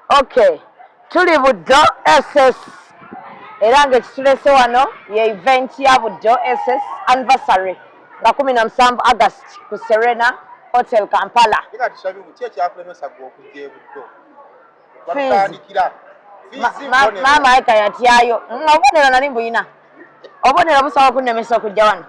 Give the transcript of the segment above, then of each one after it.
Okay, tuli Buddo SS era ng'ekitulese wano ye event ya Buddo SS anniversary nga kumi na musanvu August ku Serena Hotel Kampala. maama ayika yatyayo nga obubonero nali mbuyina obubonero busobola okunnemesa okujja wano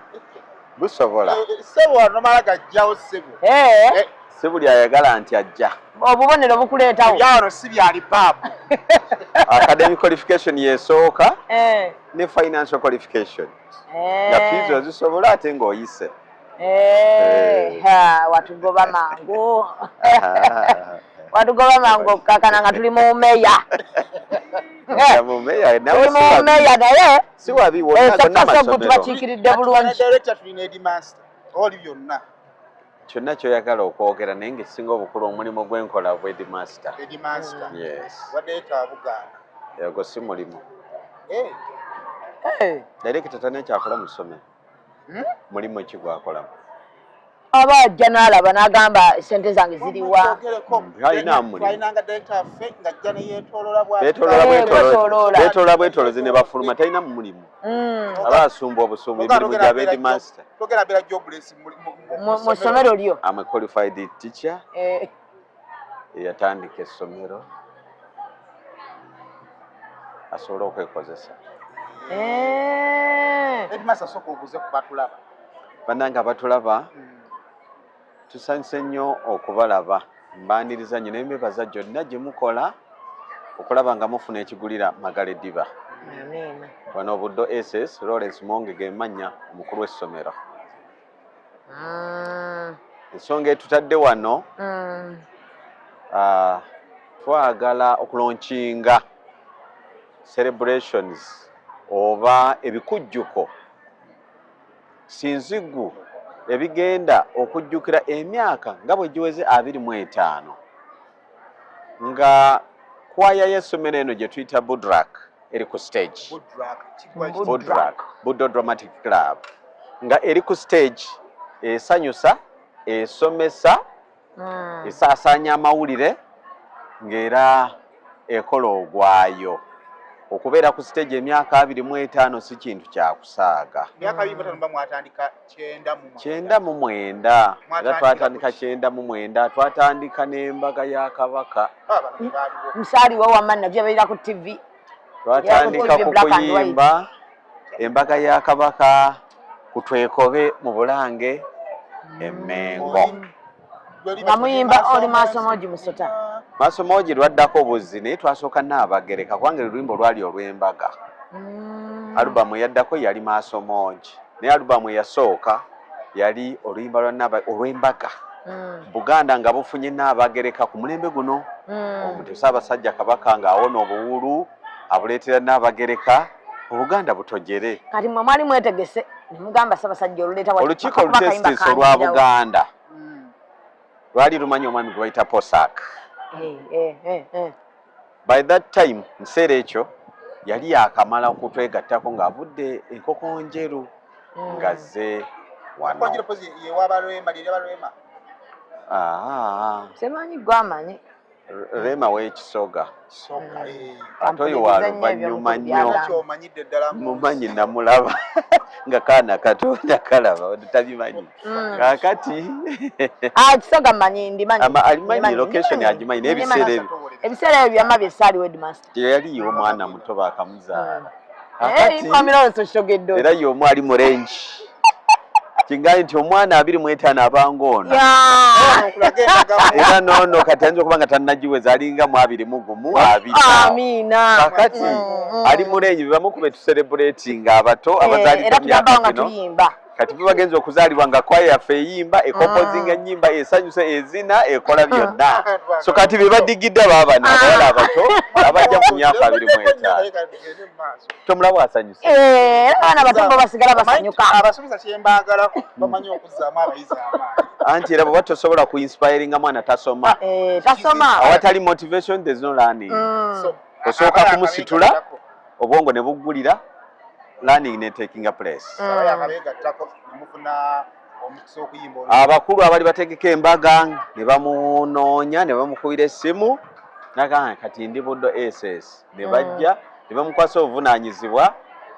busobola eh, eh, sebo wano mala gajjawo sebo eh. si buli ayagala nti ajja obubonero bukuleetawo byawano si byali baabu academic qualification yesooka ne financial qualification nga fiizi ozisobola ate ng'oyise Eh, eh. watugoba mangu watugoba mangu okukakana nga tuli mu meya mumeya naye esasasagu tubakiikiridde bulungi oli byonna kyonna kyoyagala okwogera naye ngaekisinga obukulu omulimu gwenkola gwe edmaster ego si mulimu direkita tana ekyakola mu ssomero hmm? mulimu ki gwakolamu aba ajja n'alaba n'agamba sente zange ziriwabetolola bwetolozi ne bafuluma talina mu mulimu hmm. aba asumba obusumba emirimu gya bedmaster mu ssomero lyo eyatandika essomero asobole okwekozesa eh. banange abatulaba hmm. tusanyuse nnyo okubalaba mbaniriza nnyo naye mbebaza gyonna gye mukola okulaba nga mufuna ekigulira magala eddiba wano obuddo ss lawrence monge gemannya omukulu w'essomero mm. ensonga etutadde wano mm. uh, twagala okulonkinga celebrations oba ebikujjuko sinzigu ebigenda okujjukira emyaka nga bwe giweze abiri mu etaano nga kwaya y'essomero eno gye tuyita budrak eri ku stage budrak buddo dramatic club nga eri ku stage esanyusa esomesa hmm. esaasaanya amawulire ng'era ekola ogwayo okubeera ku siteegi emyaka abiri mu etaano si kintu kyakusaaga kyenda mu mwenda era twatandika kyenda mu mwenda twatandika n'embaga ya kabaka musaaliwo wamma nabyo abeera ku tv twatandika ku kuyimba embaga ya kabaka ku twekobe mu bulange emengo nga muyimba oli maasomoji musota maasomoji lwaddako buzzi naye twasooka naabagereka kubanga oluyimba olwali olw'embaga mm. alubamu eyaddako yali maasomoji naye alubamu eyasooka yali oluyimba lwanaaba olw'embaga mm. buganda nga bufunye naabagereka ku mulembe guno mm. omutusa abasajja kabaka ng'awona obuwulu abuleetera naabagereka obuganda butojere kati mwe mwali mwetegese nemugamba sabasajja oluleeta olukiiko olutesitisi olwa buganda hmm. lwali lumanyi omwami gwe bayita posak eh, eh, eh, by that time mukiseera ekyo yali yakamala okutwegattako ng'avudde enkoko njeru hmm. ngazze wano ah. semanyi gwamanyi Rema w'ekisoga ate oyo wa luvannyuma nnyo mumanyi namulaba nga kaana katonda kalaba tabimanyi mm. kakati ah, kisoga manyi ndimanyi alimanyi location agimanyi n'ebiseera ebyo ebiseera ebyo byama bye saali wedmaster teyaliyo omwana muto bakamuzaala era yomu ali mu rengi kingaye nti omwana abiri mu etaano abanga ono era noono kati ayinza okuba nga tannagiweza alinga mu abiri mu gumu abirikakati mm, mm. ali mu rengi bebamu ku betuserebuleeti nga abato eh, abazaalidde myaka gino kati fe bagenza okuzaalibwa nga kwaya yaffe eyimba ekompozinga ah. enyimba esanyusa ezina ekola byonna so kati be badigidde baabana ah. abawala abato abajja mu myaka abiri mu etaano tomulaba asanyusa eh, abaana batombo basigala basanyuka abasuubiza kyembaagalako bamanyi okuzzaamu abayizi amaanyi anti era bweba tosobola ku inspiringa mwana tasoma eh, tasoma awatali motivation there's no learning mm. osooka kumusitula obwongo ne buggulira learning ne takinga place abakulu abali bategeka embaga ne bamunoonya ne bamukubira essimu nagamba kati ndi buddo ss ne mm. bajja ne bamukwasa obuvunaanyizibwa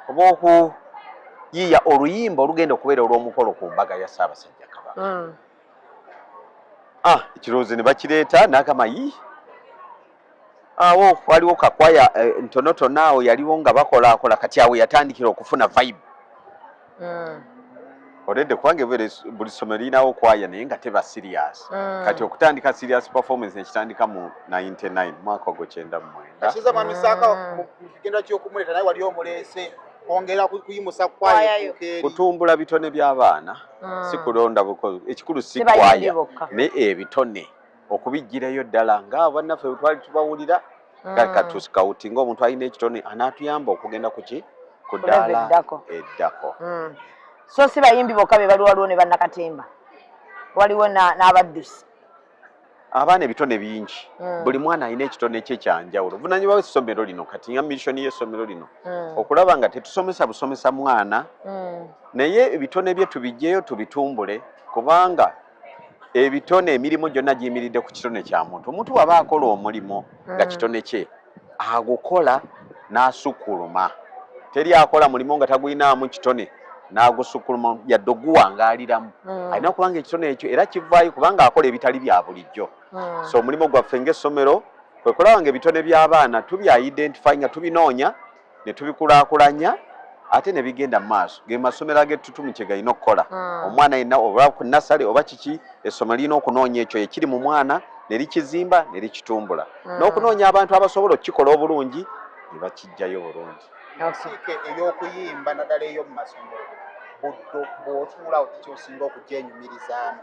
obwokuyiiya oluyimba olugenda okubeera olw'omukolo ku mbaga ya ssaabasajja kabaka mm. ah, ekirowoozo ne bakireeta nagamba yii awo waliwo kakwaya eh, ntonotono awo yaliwo nga bakolaakola kati awo yatandikira okufuna vibe mm. oledde kubanga buli ssomero lirinawo kwaya naye nga teba sirias mm. kati okutandika sirias performance nekitandika mu 99 mwaka ogwo kyenda mumwendakutumbula mm. bitone by'abaana mm. sikulonda ekikulu si kwaya ne ebitone okubijjirayo ddala nga bannaffe bwe twali tubawulira mm. katusikawuti ngaomuntu alina ekitone anaatuyamba okugenda kuki ku ddaala eddako mm. so si bayimbi bokka be bali waliwo ne bannakatemba waliwo n'abaddusi abaana ebitone bingi mm. buli mwana alina ekitone kye kyanjawulo vunanyuma we ssomero lino kati nga missoni y'essomero lino okulaba nga tetusomesa busomesa mwana naye ebitone bye tubijjeyo tubitumbule kubanga ebitone emirimu gyonna giyimiridde ku kitone kya muntu omuntu waba akola omulimu nga mm. kitone kye agukola n'asukkuluma teri akola mulimu nga tagulinaamu kitone n'agusukkuluma yadde oguwangaaliramu mm. alina okuba nga ekitone ekyo era kivaayo kubanga akola ebitali bya bulijjo mm. so omulimu gwaffe ng'essomero kwe kulaba nga ebitone by'abaana tubya identify nga tubinoonya ne tubikulaakulanya ate ne bigenda mu maaso ge masomero ag'ettutumu kye galina okukola hmm. omwana yenna oba ku nasale oba kiki essomero lirina okunoonya ekyo ekiri mu mwana ne likizimba ne likitumbula hmm. n'okunoonya abantu abasobola okukikola obulungi ne bakijjayo bulungi ensiike ey'okuyimba naddala eyo mu masomero buddo bw'otuula okukyosinga okugyenyumirizaamu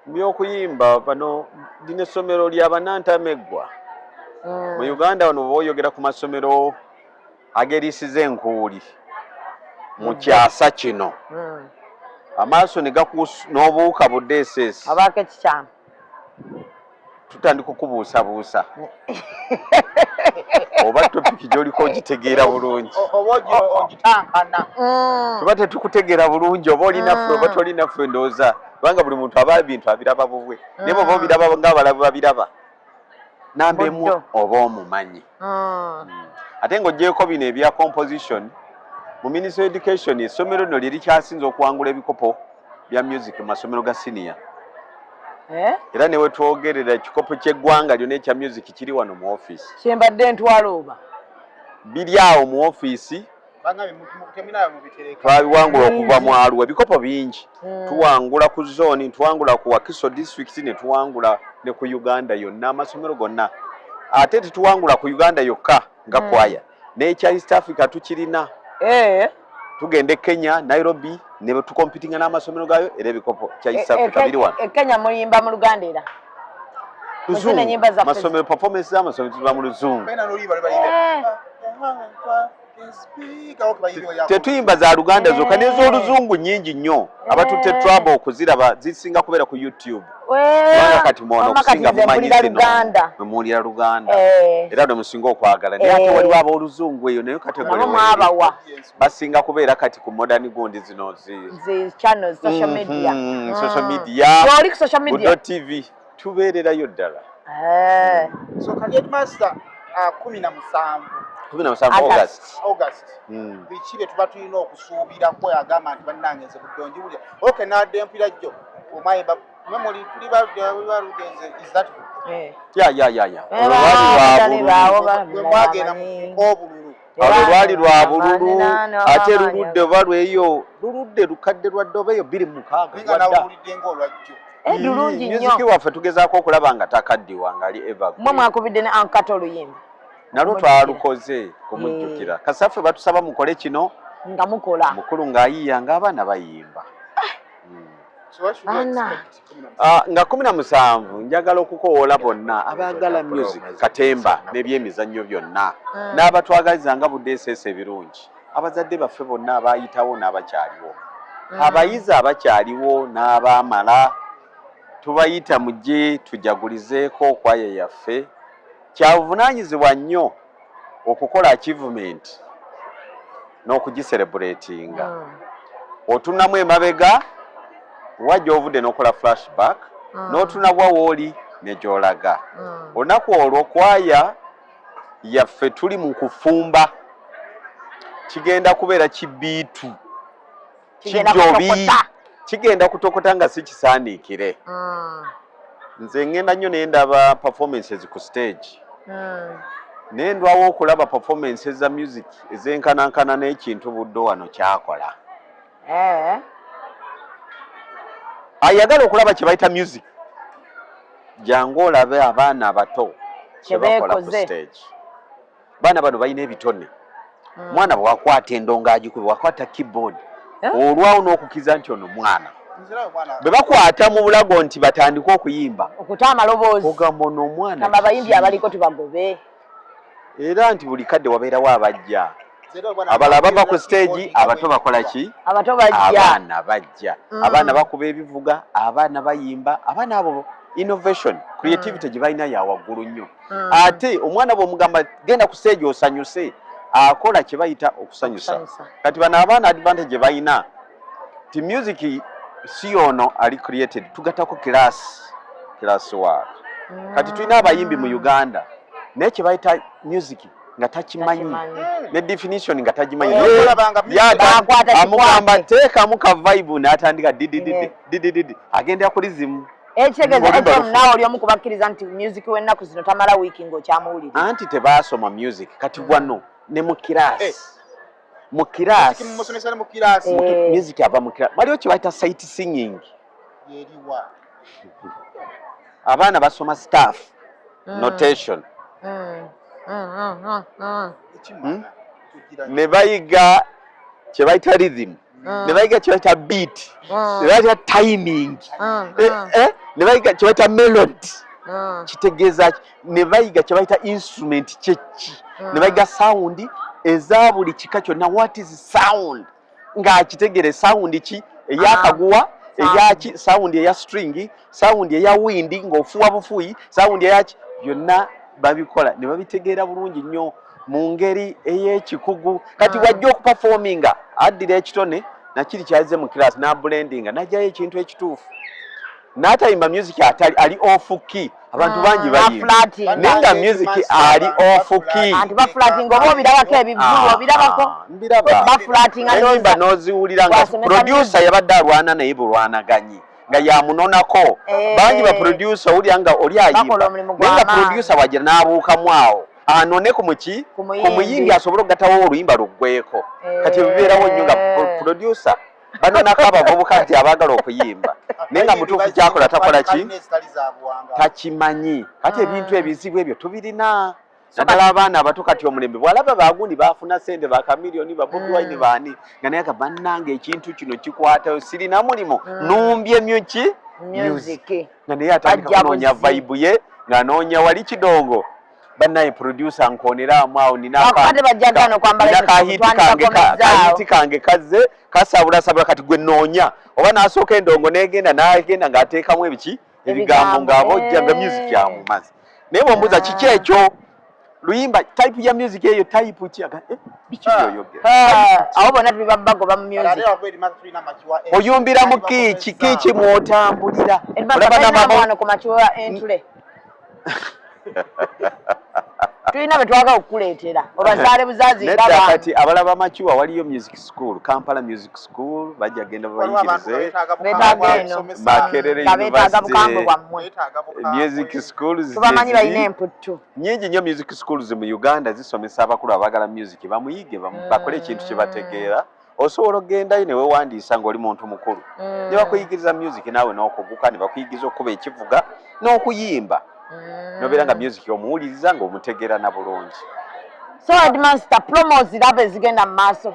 byokuyimba bano lino essomero lya banantameggwa mm. mu uganda wano boyogera ku masomero agerisiza enkuuli mu mm. kyasa kino mm. amaaso negakuus n'obuuka budss abaako ekikyama tutandika okubuusabuusa oba topiki gyoliko ogitegeera bulungi mm. tuba tetukutegeera bulungi oba olinaffe oba mm. tolinaffe ndowooza kubanga buli muntu aba bintu abiraba bubwe naye bwoba mm. obiraba ngaabalaba babiraba namba emu oba omumanyi Ah. ate ng'ogyeko bino ebya composition mu ministry education essomero lino lyerikyasinza okuwangula ebikopo bya music mu masomero ga siniya eh? era newetwogerera ekikopo kyeggwanga lyona ekya music kiri wano mu offiisi kyembadde ntwalooba biri awo mu offiisi twabiwangula okuva mu alwa ebikopo bingi hmm. tuwangula ku zooni tuwangula ku wakiso disitulikiti ne tuwangula ne ku uganda yonna amasomero gonna ate tetuwangula ku uganda yokka nga hmm. kwaya n'ekya east africa tukirina eh. tugenda e kenya nairobi ne tukompitinga n'amasomero gayo era ebikopo kya east eh, eh, africa biri wano ekenya muyimba mu luganda era luzungu masomero performance z'amasomero tuba mu luzungu tetuyimba za luganda zokka nez'oluzungu nyingi nnyo abatutte eh. traba okuziraba zisinga kubeera ku youtube kubanga eh. kati mwono okusinga mumanyi zino muwulira luganda eh. era ne musinga okwagala naye ate waliwo ab'oluzungu eyo naye kategori basinga kubeera kati ku modern gundi zino zi social mhm, media mm. tv tubeererayo ddala eh. hmm. so kati edmasta ah, kumi na musanvu kumi na musanvu august august hmm. biki bye tuba tulina okusuubira kwe agamba nti bannange nze buddongi bulya oke naadde empira jjo omayemba memuli tuli balugenze is that good eh. ya ya ya ya olwali lwabululu mwagenda mu obululu abo lwali lwa bululu ate luludde oba lweyo luludde lukadde lwadde oba eyo biri mukaagalulungi eh, nyo waffe tugezaako okulaba nga takaddiwa ngali eva mwe mwakubidde ne ankata oluyimba nalwo twalukoze kumujjukira eh. kasaffe batusaba mukole kino nga mukola mukulu ng'ayiiya ng'abaana bayimba Ah, nga kumi na musanvu njagala okukowoola bonna abaagala music katemba n'ebyemizannyo byonna hmm. n'abatwagaliza nga budeeseesa ebirungi abazadde baffe bonna abaayitawo n'abakyaliwo hmm. abayizi abakyaliwo n'abaamala tubayita mujje tujagulizeeko okwaya yaffe kyabuvunaanyizibwa nnyo okukola achievement n'okugiselebuletinga mm. otunamu emabega wa gy'ovudde n'okola flashback mm. n'otunabwa wooli ne gy'olaga mm. olunaku olwo kwaya yaffe tuli mu kufumba kigenda kubeera kibiitu kijjobi kigenda kutokota nga si kisaaniikire mm. nze ngenda nnyo naye ndaba performances ku stage mm. naye ndwawo okulaba performances za music ezenkanankana n'ekintu buddo wano kyakola eh. ayagala okulaba kye bayita music jangu olabe abaana abato kyebakola ku stage baana bano balina ebitone hmm. mwana bwewakwata endongo agikuba wakwata keyboard eh? olwawo n'okukiza nti ono mwana bwe bakwata mu bulago nti batandike okuyimba okuta amaloboozi ogamba ono omwana abayimbi abaliko tubagobe era nti buli kadde wabeerawo abajja abala bava ku stage abato bakola ki abato bajja abaana bajja mm. abaana bakuba ebivuga abaana bayimba abaana abo innovation creativity mm. gye balina ya waggulu nnyo mm. ate omwana bwomugamba genda kuseegi osanyuse akola kyebayita okusanyusa kati bano abaana advantage balina ti music si ono ali created tugatako class class work mm. kati tulina abayimbi mu uganda naye kyebayita music nga takimanyi ne definition nga tagimanyi amugamba teekamu ka vibe n'atandika didididi agendera kuli zimu Ekitegeza eh, ekyo nawe oli omu kubakkiriza nti music w'ennaku zino tamala wiiki ng'okyamuwulira. Anti tebaasoma music kati wano ne mu kiraasi. Eh. Mu kiraasi. Musomesa ne mu kiraasi. Eh. Music ava mu kiraasi. Waliwo kye bayita sight singing. Yeriwa. Abaana basoma staff. Mm. Notation. Mm. Mm, mm, mm, mm. Hmm? Ne bayiga kye bayita rhythm. ah. ne bayiga kyebayita beat ah. ne bayiga timing ah, eh, eh, ne bayiga kyebayita melody kitegeeza ki ne bayiga kyebayita instrument kyekki ne bayiga sawundi eza buli kika kyonna what is sound ng'akitegere sawundi ki eyakaguwa eyaki sawundi eya stringi sawundi eya windi ng'ofuwa bufuyi sawundi eyaki byonna babikola ne babitegeera bulungi nnyo mu ngeri ey'ekikugu kati ah. wajja okupafominga addira ekitone nakiri kyazze mu kiraasi n'abulendinga najjayo ekintu ekituufu n'atayimba music atali ali ofu ki abantu ah, bangi bayimba naye nga music ali ofu ki mbiraba n'oziwulira nga produsa yabadde alwana naye bulwanaganyi nga yamunonako eh. bangi baprodusa owulira nga oli ayimba naye nga produsa wagira n'abuukamu awo anone ku muki ku muyimbi asobole okugatawo oluyimba luggweeko eh. kati ebibeerawo nnyo nga producer banonako abavubuka nti abaagala okuyimba naye nga mutuufu kyakola takola ki takimanyi kati ebintu ah. ebizibu ebyo tubirina naddala abaana abato kati omulembe bwalaba bagundi bafuna sente bakamiliyoni babobwaine hmm. baani nga naye kabanange ekintu kino kikwatayo sirina mulimu hmm. numbye myuki music nga naye atandika kunoonya vibe ye ng'anoonya wali kidongo banaye producer nkonera amwao ninakahiti kange kazze kasabula sabula kati gwe noonya oba nasooka endongo negenda nagenda ng'ateekamu ebiki ebigambo ng'abojja nga music amumazi naye bwombuuza kiki ekyo luyimba type ya music eyo type ki aga eh biki ah. yoyo ah, awo bona tuli babago ba music oyumbira mu kichi kichi mwotambulira olaba na mama wana ku machiwa entule tulina betwaga okukuleetera obazaale buzazi nedda kati abalaba makiwa waliyo music school kampala music school bajja genda babayigirize makerere university music schools tubamanyi balina emputtu nyingi nnyo music schools mu uganda zisomesa abakulu abagala music bamuyige mm. bakole ekintu kyebategeera osobola okugendayo newewandiisa ngaoli muntu mukulu mm. nebakuyigiriza music naawe nokuguka nebakuyigiriza okukuba ekivuga n'okuyimba mm. nobeera nga music omuwuliriza ngaomutegeera na bulungi so admansta promo ziraba ezigenda mu maaso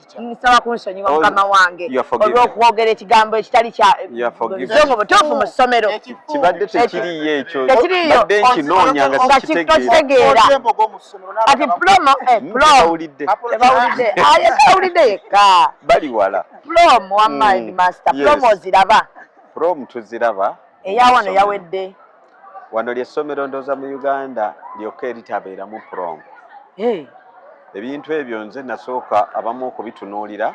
nsaba kunsonyiwa oh, mukama wange olw'okwogera ekigambo ekitali kyazongo butuufu mu ssomero kibadde tekiriyo ekyo badde nkinoonya nga sikitegeera kati plomo eh, hmm, plomtebawulidde ah, yekka bali wala plom wa hmm, mind master plom oziraba plom tuziraba eyawano yawedde wano lyessomero ndooza mu uganda lyokka eritabeeramu prom hey. ebintu ebyo nze nasooka abamu okubitunuulira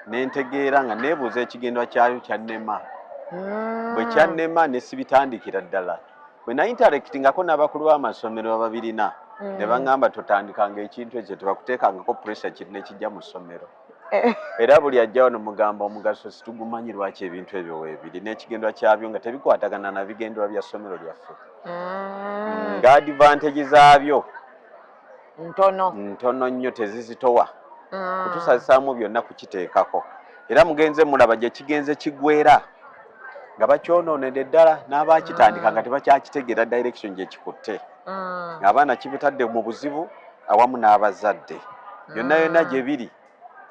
nentegeera nga nebuuza ekigendwa kyayo kyannema mm. bwe kyannema nesibitandikira ddala bwe nainterectingako n'abakulu b'amasomero ababirina mm. ne baŋamba totandikanga ekintu ekyo tebakuteekangako pressure kiri nekijja mu ssomero Eh. era buli ajja wano mugamba omugaso situgumanyi lwaki ebintu ebyo webiri n'ekigendwa kyabyo nga tebikwatagana na bigendwa bya ssomero lyaffe mm. nga advantage zaabyo ntono ntono nnyo tezizitowa mm. kutusazisaamu byonna kukiteekako era mugenze mulaba gye kigenze kigwera nga bakyonoonedde ddala n'abakitandika nga mm. tebakyakitegeera direction gye kikutte mm. abaana kibutadde mu buzibu awamu n'abazadde yonna mm. yonna gye biri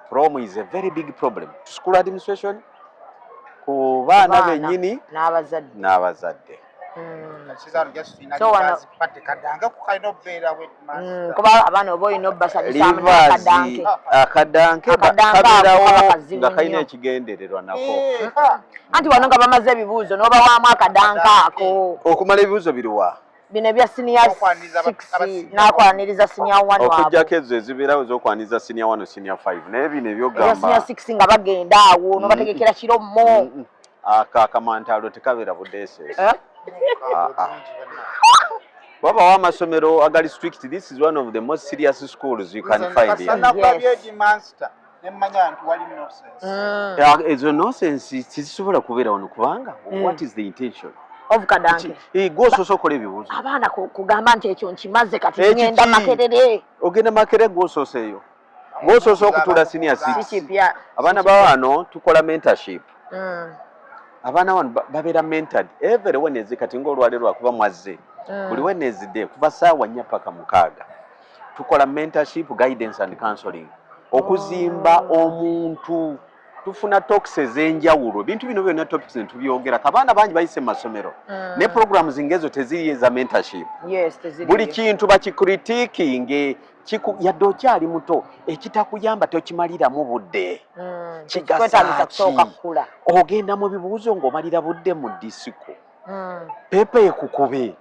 prom is a very big problem to school administration ku baana bennyini n'abazadde kuba abaana oba olina obasanyusaakadanke kabeerawo nga kalina ekigendererwa nako eh, anti wano nga bamaze ebibuuzo n'obawaamu akadanke ako okumala ebibuuzo biriwa bino ebya senior nakwaniriza senior one okujjako ezo ezibeerawo ezokwaniriza senior one senior five naye bino ebyogamba senior six nga bagenda awo mm-hmm. nobategekera kiro mo mm-hmm. ako ah, akamantaalo tekabeera budeeseesi eh? ah, ah. wabawo amasomero agali strict this is one of the most serious schools you can find here. Yes. Ah. ezo nonsense tezisobola kubeera wano kubanga eh. what is the intention eh, gwosoose okola ebibuuzo abaana kugamba nti ekyo nkimaze kati eh, ngenda makerere ogenda makerere gwosoose eyo gwosoose okutula senior six abaana bawano tukola mentorship hmm. abaana wano babeera mentored every wenezi kati ngaolwale lwakuba mwazze hmm. buli wenezi de kuva saawa nnya paka mukaaga tukola mentorship guidance and counseling okuzimba omuntu tufuna toks ezenjawulo ebintu bino byona topics netubyogera kabaana bangi bayise mu masomero mm. ne programu zingezo teziri eza mentorship yes, buli kintu bakikritikinge yadde okyali muto ekitakuyamba tokimaliramu budde mm. kigasaki ogenda mu bibuuzo ngaomalira budde mu disiko mm. pepa ekukube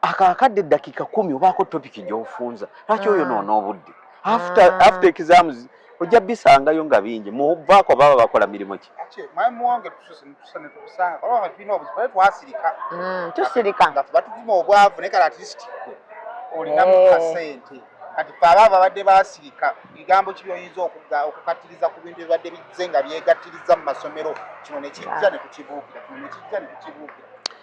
akakadde dakika kumi obaako topiki gyofunza lwaki oyo ah. noona obudde after ah. exams ojja bisangayo nga bingi muvaako baba bakola mirimu ki hmm, tusirika nga tubatuvuma obwavu naye kale atleast olinamu eh. kasente kati fe aba babadde basirika bigambo ki byoyinza okukattiriza ku bintu ebibadde bizze nga byegattiriza mu masomero kino nekijja ah. nekukibuukira kino nekijja nekukibuukira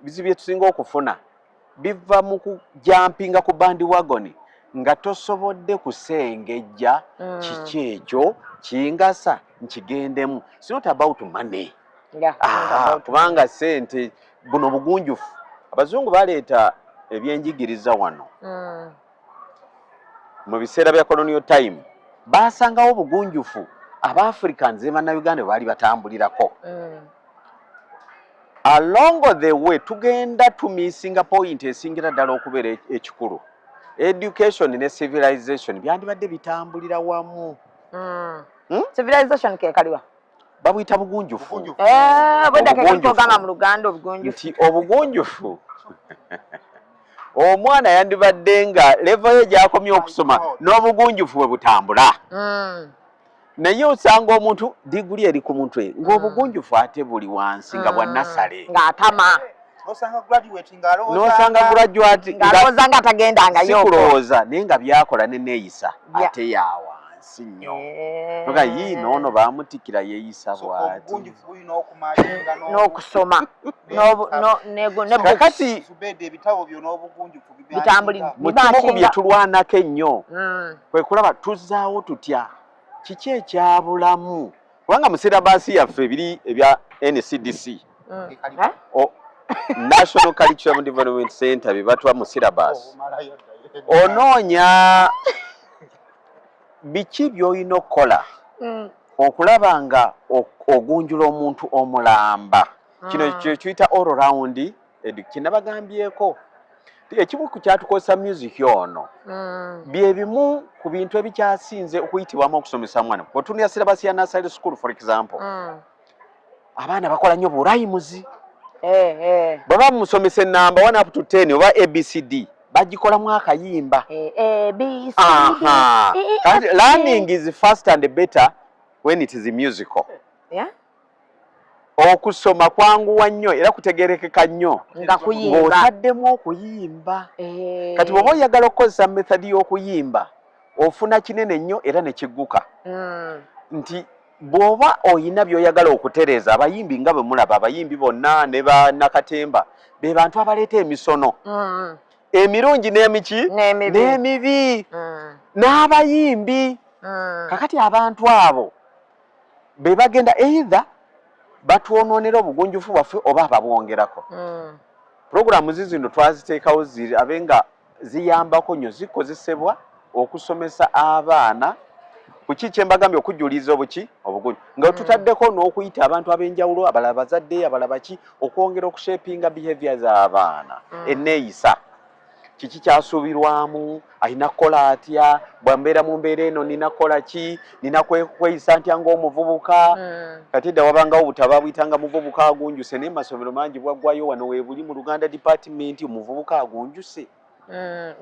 ebizibu bye tusinga okufuna biva mu kujampinga ku bandi wagoni nga tosobodde kusengejja mm. kiki ekyo kingasa nkigendemu sinot about money ah, kubanga sente buno bugunjufu abazungu baleeta ebyenjigiriza wano mm. mu biseera bya colonial time baasangawo obugunjufu abaafricans ne bannayuganda bwe baali batambulirako mm. along the way tugenda tumisinga point esingira ddala okubeera e-, ekikulu education ne civilization byandibadde bitambulira wamu mm. hmm? civilization kekaliwa babuyita bugunjufu eh, nti obugunjufu omwana yandibadde nga levo ye gyakomye okusoma n'obugunjufu bwe butambula mm. naye osanga omuntu diguli eri ku mutwe ng'obugunjufu ate buli wansi nga bwa mm. nasale ng'atama nosanga graduate ng'alowooza nga tagendangayokulowooza naye nga byakola neneeyisa ate yawa si nnyo eh. nga yii noono bamutikira yeeyisa bwati n'okusoma kakati mu kimu ku bye tulwanako ennyo hmm. kwe kulaba tuzzaawo tutya kiki ekyabulamu kubanga mu sirabaasi yaffe ebiri ebya ncdc mm. oh, national curriculum development center byebatwa mu syllabus oh, onoonya biki byolina okukola mm. okulaba nga ogunjula omuntu omulamba kino mm. kyekiyita all round kinabagambyeko ekimu ku kyatukozesa music ono mm. byebimu ku bintu ebikyasinze okuyitibwamu okusomesa mwana otunira sirabasi ya nasale school for example mm. abaana bakola nnyo burayimuzi eh, eh. bwe bamusomesa enamba one up to ten oba abcd bagikolamu akayimba eh, learning is first and better when it is musical yeah? okusoma kwanguwa nnyo era kutegerekeka nnyo ng'otaddemu okuyimba eh. kati bwoba oyagala okukozesa methodi y'okuyimba ofuna kinene nnyo era ne kigguka hmm. nti Bw'oba olina by'oyagala okutereeza, abayimbi nga bwe mulaba abayimbi bonna ne bannakatemba be bantu abaleeta emisono mm. emirungi n'emiki n'emibi mm. n'abayimbi mm. kakati abantu abo be bagenda eitha batwonoonera obugunjufu bwaffe oba ababwongerako pulogulaamu zizino twaziteekawo ziri abe nga ziyambako nyo zikozesebwa okusomesa abaana kuki kyembagambye okujuliza obuki obugunyu nga mm. tutaddeko n'okuyita abantu ab'enjawulo abalala bazadde abalaba ki okwongera okushepinga behavior z'abaana mm. enneeyisa kiki kyasuubirwamu alina kukola atya bwambeera mu mbeera eno nina kukola ki nina kweyisa ntya ngaomuvubuka mm. kati edda wabangawo butaba buyitanga muvubuka agunjuse naye masomero mangi bwaggwayo wano webuli mu luganda department omuvubuka agunjuse mm.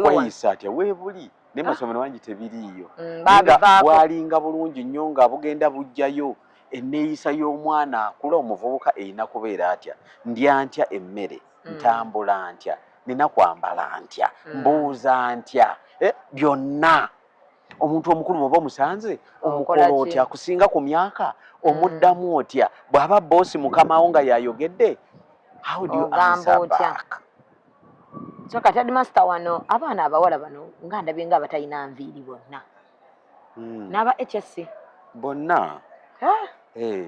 kweyisa atya webuli naye ah. masomero mangi tebiriiyo mm, bwalinga bulungi nnyo nga bugenda bujjayo enneeyisa y'omwana akula omuvubuka erina kubeera atya ndya ntya emmere mm. ntambula ntya nina kwambala ntya mm. mbuuza ntya eh, byonna omuntu omukulu bwoba omusanze omukola otya akusinga ku myaka mm. omuddamu otya bw'aba boosi mukamawo nga yayogedde so kati adimasita wano abaana abawala bano nga ndabye nga abatalina nviiri bonna mm. n'aba hsc bonna eh.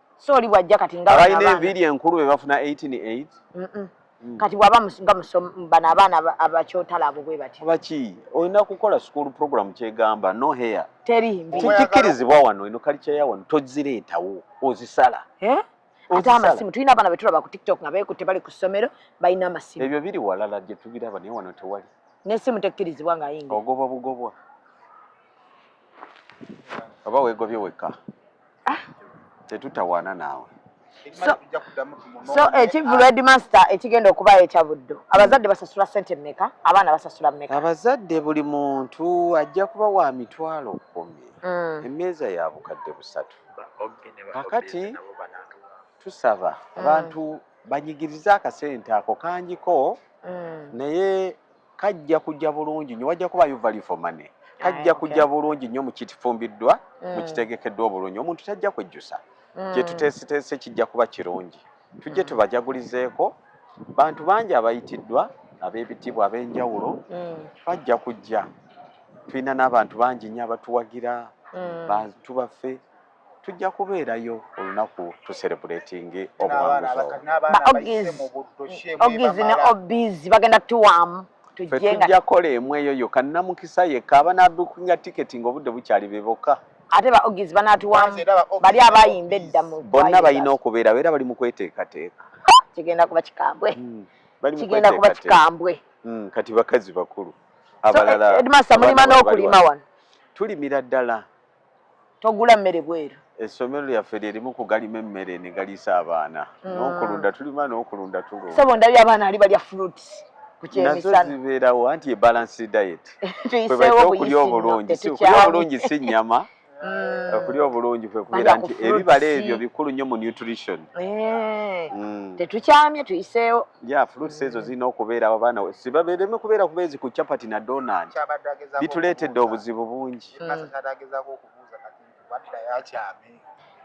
so oli bwajja kati nga abalina enviiri enkulu be bafuna 188 mm -mm. Mm. kati bwaba nga bano abaana abakyotala abo bwe bati baki olina kukola school program kyegamba no hair teri mbi kikirizibwa wano ino kali kya wano tozireetawo ozisala eh ate amasimu tulina abaana betulaba ku tiktok nga beekutte bali ku ssomero balina amasimu ebyo biri walala gye tubiraba naye wano tewali n'essimu tekkirizibwa nga yinga ogobwa bugobwa oba wegobye wekka ah. tetutawaana naawe so ekivulu eh, headmaster ekigenda okubayo ekya buddo abazadde basasula sente meka abaana basasula meka abazadde buli muntu ajja kuba wa mitwalo kumi mm. emeeza ya bukadde busatu kakati tusaba mm. abantu banyigirize akasente ako kangiko mm. naye kajja kujja bulungi nyo wajja kuba you value for money kajja kujja bulungi nyo mukitifumbiddwa mm. mukitegekeddwa obulungi omuntu tajja kwejjusa mm. kyetuteesiteese kijja kuba kirungi tujje mm. tubajagulizeeko bantu bangi abayitiddwa ab'ebitiibwa ab'enjawulo bajja kujja tulina n'abantu bangi nyo abatuwagira bantu baffe tujja kubeerayo olunaku tuserebuletingi obuwanguzi ne obizi bagenda tuwaamu tujja kola emu eyo yokka namukisa yekka abanabukinga tiketi nga obudde bukyali be bokka ate ba ogizi banatuwamu bali abayimba edda mu bonna balina okubeera era bali mu kweteekateeka kigenda kuba kikambwe hmm, kigenda kuba kikambwe hmm, kati bakazi bakulu abalala eh, edmasa mulima n'okulima wano tulimira ddala togula mmere bweru essomero lyaffe lyerimu kugalima emmere ne galiisa abaana mm. n'okulunda tulima n'okulunda tulunda sebo ndabye abaana ali balya fruits nazo zibeerawo anti ebalance diet kwebaita okulya obulungi okulya obulungi si nnyama mm. okulya obulungi kwe kubeera nti ebibala ebyo bikulu nnyo mu nutrition eh. mm. tetukyamye tuyiseewo ya fruits ezo zirina okubeerawo abaana sibabeereme kubeera kubeezi ku chapati na donat bituleetedde obuzibu bungi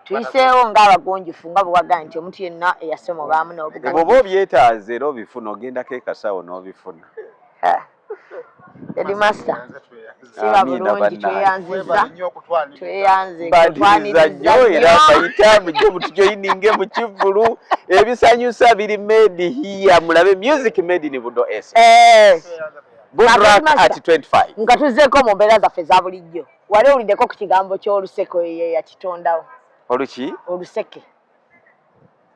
tuyiseewo ng'abagunjufu nga bwewagaa nti omuntu yenna eyasoma obaamu n'obugoba obyetaaze era obifuna ogendako ekasawo n'obifuna edimasta siba bulungi tweyanziza tweyanzitwanirizaoyerabayitamujomutujoyininge mu kivulu ebisanyusa biri made hiya mulabe music made ni budo es eh. nga tuzzeeko mu mbeera zaffe eza bulijjo wali owuliddeko ku kigambo ky'oluseke oyo ye yakitondawo oluki oluseke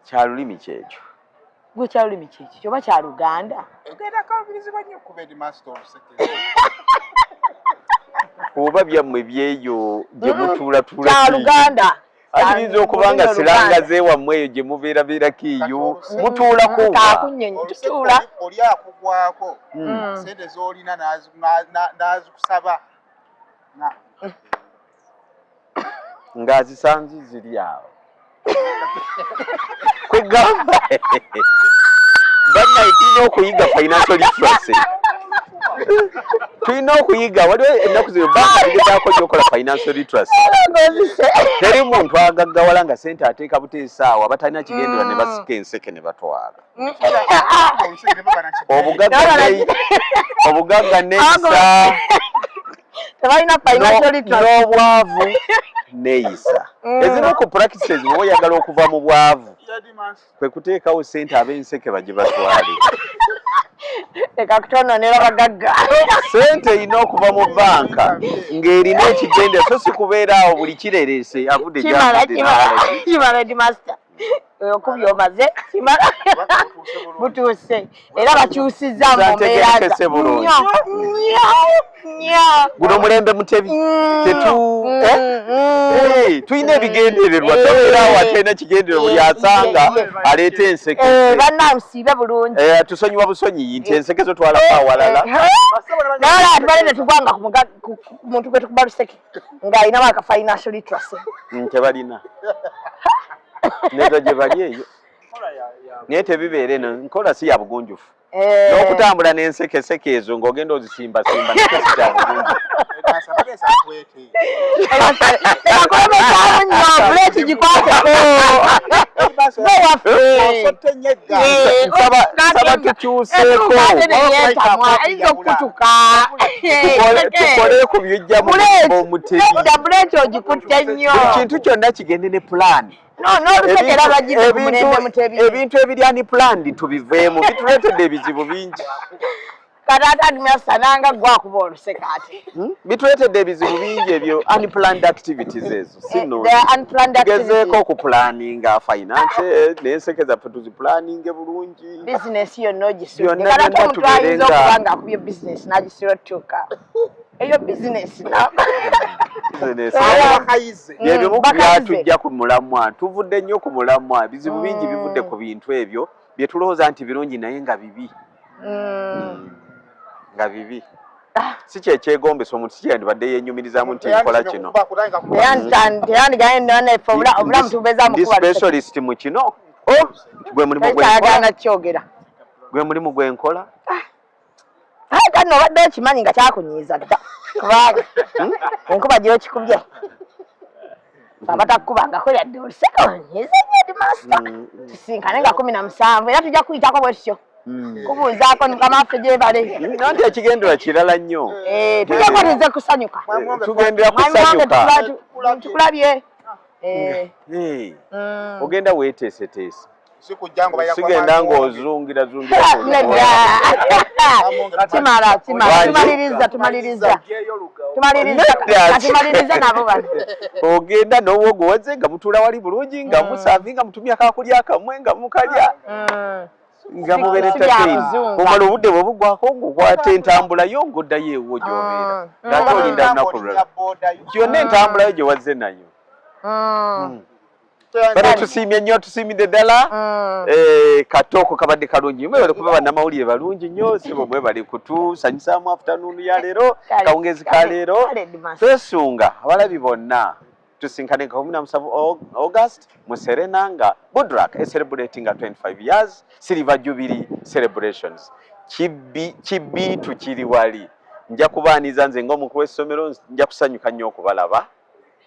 kyalulimi kyekyo gwe kyalulimi kyekyo kyoba kya luganda oba byammwe byeyo gye mutuulatula kya luganda ayinza okuba nga siranga zewammwe eyo gye mubeera beera kiiyo mutuulako tutuula oli akugwako hmm. hmm. sente z'olina n'azikusaba ng'azisanzi ziri awo kwegamba bannaye tulina okuyiga financial literacy tulina okuyiga waliwo ennaku zino bagezaako nyokola financial literacy teri muntu agaggawala nga sente ateeka buteesaawo abatalina kigendera ne basika enseke ne batwala obugagga neyisa n'obwavu neyisa mm. ezimu ku practices oba oyagala okuva mu bwavu kwe kuteekawo ssente ab'enseke baje batwale leka kutononera bagagga ssente erina okuva mu banka ng'erina ekigende so si kubeera awo buli kirereese avudde gyakimala di masita okubyomaze kimala butuuse era bakyusiza guno omulembe mutebi mm, mm, eh? mm. tulina ebigendererwa eh. tobeera awo atalina kigendererwa buli eh. asanga aleeta enseke banansiibe bulungi tusonyiwa busonyiyi nti enseke zo twalako awalala naye abantu balina tugwanga ku muntu gwe tukuba luseke ng'alinamu aka financial literacy tebalina neza gye bali eyo naye tebibeera eno nkola si ya bugunjufu eh. n'okutambula n'ensekeseke ezo ng'ogenda ozisimbasimba nekesi kya bugunjufu nsaba tukyuseeko tukole ku bijja mu mutima omuteekintu kyonna kigende ne pulaani ebintu ebiri ani planned tubiveemu bituleetedde ebizibu bingi kataatadumyasananga gwakuba oluseka ati hmm? bituleetedde ebizibu bingi ebyo unplanned activities ezo eh, singezeeko okupulaninga finance eh, nenseke zaffe tuzipulaninge bulungi bizinesi yonna ogisudde katatomutwayinza okuba nga akubye bizinesi nagisira otutuuka eyo bizinesi byebimu ku byatujja ku mulamwa tuvudde nnyo ku mulamwa ebizibu bingi mm. bivudde ku bintu ebyo bye tulowooza nti birungi naye nga bibi mm. Mm. nga bibi ah. si kyekyegombesa omuntu si kyeyandibadde yenyumirizamu nti nkola kino specialist mu kino oh! gwe mulimu gwenkola aye kati nobadde okimanyi nga kyakunyiiza dda kubanga hmm, enkuba gyokikubye abatakukubangako yadde oluseka onyiiza nyo di masita hmm, hmm. tusinkane nga kumi na musanvu era tujja kuyitako bwe tutyo Hmm. kubuuzaako mukama waffe gyebale nanti ekigendera kirala nnyo eh, tujako nize kusanyuka eh, tugendera kusanyuka tukulabye eh. hmm. ogenda weteeseteese sigenda ng'ozungira zungiraogenda n'obwogo wazze nga mutuula wali bulungi nga mm. musavi nga mutumya kakulya akamwe nga mukalya mm. nga muberetatei omala obudde bwe bugwako ng'okwata entambula yo ng'oddayo ewo gy'obeera mm. ng'ate olinda lunaku lulala gyonna entambulayo gye wazze nayo bana tusiimye nnyo tusiimidde ddala mm. eh, katooko kabadde kalungi mwebale kuba bannamawulire balungi nnyo sibo mwebale kutusanyusaamu afutanuunu ya leero kawungezi ka leero twesunga abalabi bonna tusinkane nga kumi na musanvu august mu serena nga budrak ecelebrati nga 25 years silver jubilee celebrations kibiitu kiri wali nja kubaaniza nze ngaomukulu w'essomero nja kusanyuka nnyo okubalaba